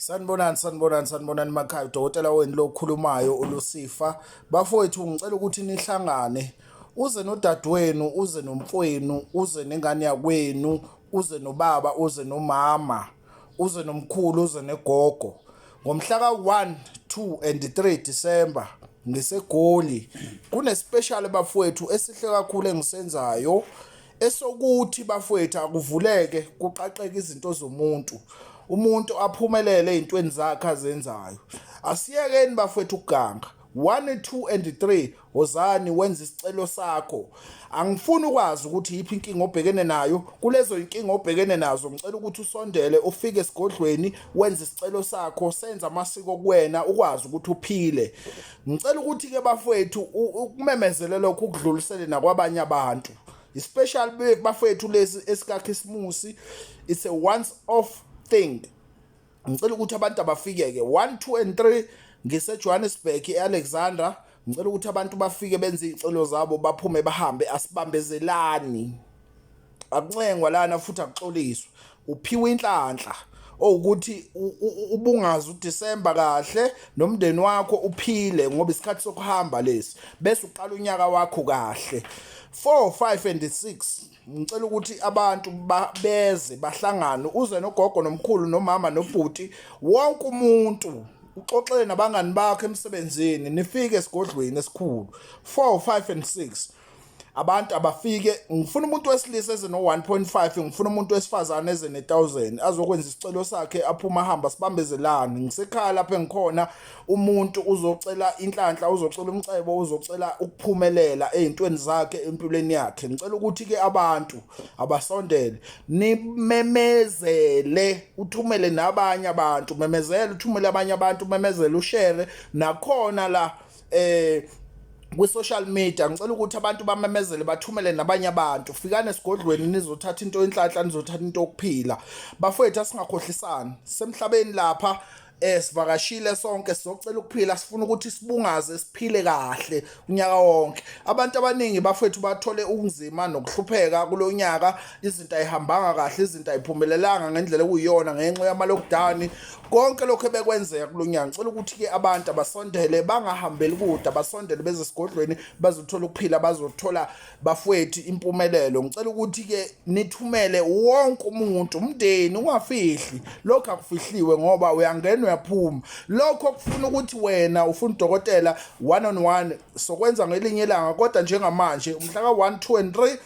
Sanibonani sanibonani sanibonani makhaya udokotela wenu lokhulumayo uLusifa bafowethu ngicela ukuthi nihlangane uze nodadewenu uze nomfowenu uze nengane yakwenu uze nobaba uze nomama uze nomkhulu uze negogo ngomhla ka-1 2 and 3 December ngisegoli kunespecial bafowethu esihle kakhulu engisenzayo esokuthi bafowethu akuvuleke kuqaqeke izinto zomuntu umuntu aphumelele ezintweni zakhe azenzayo asiyekeni bafowethu ukuganga 1 2 and 3 wozani wenza isicelo sakho angifuni ukwazi ukuthi yiphi inkinga obhekene nayo kulezo inkinga obhekene nazo ngicela ukuthi usondele ufike esigodlweni wenze isicelo sakho senza amasiko kuwena ukwazi ukuthi uphile ngicela ukuthi ke bafowethu ukumemezele lokho ukudlulisele nakwabanye abantu especially bafowethu lesi esikakhisimusi it's a once off thing ngicela ukuthi abantu abafike ke 1 2 and 3 ngiseJohannesburg eAlexandra ngicela ukuthi abantu bafike benze izicelo zabo baphume bahambe asibambezelani akuncengwa lana futhi akuxoliswe uphiwe inhlanhla owukuthi ubungazi uDisemba kahle nomndeni wakho uphile ngoba isikhathi sokuhamba lesi bese uqala unyaka wakho kahle 4 5 and 6 ngicela ukuthi abantu beze bahlangane uze nogogo nomkhulu nomama nobhuti wonke umuntu uxoxele nabangani bakho emsebenzini nifike esigodlweni esikhulu 4 5 and 6 abantu abafike ngifuna umuntu wesilisa eze no-1.5 ngifuna umuntu wesifazane eze ne-1000 azokwenza isicelo sakhe aphuma ahamba sibambezelane ngisekhaya lapho engikhona umuntu uzocela inhlanhla uzocela umcebo uzocela ukuphumelela ey'ntweni zakhe empilweni yakhe ngicela ukuthi-ke abantu abasondele nimemezele uthumele nabanye abantu memezele uthumele abanye abantu memezele ushere nakhona la eh kwi-social media ngicela ukuthi abantu bamemezele bathumele nabanye abantu fikani esigodlweni nizothatha into enhlanhla nizothatha into yokuphila bafowethu asingakhohlisani semhlabeni lapha eh sivakashile sonke sizocela ukuphila sifuna ukuthi sibungaze siphile kahle unyaka wonke abantu abaningi bafethu bathole ukunzima nokuhlupheka kulonyaka izinto ayihambanga kahle izinto ayiphumelelanga ngendlela okuyiyona ngenxa yama-lockdown konke lokhu ebekwenzeka kulo nyanga ngicela ukuthi-ke abantu abasondele bangahambeli kude abasondele beze esigodlweni bazothola ukuphila bazothola bafwethu impumelelo ngicela ukuthi-ke nithumele wonke umuntu umndeni ungafihli lokhu akufihliwe ngoba uyangena uyaphuma lokho kufuna ukuthi wena ufuna udokotela one on one sokwenza ngelinye ilanga kodwa njengamanje umhla ka-one two and three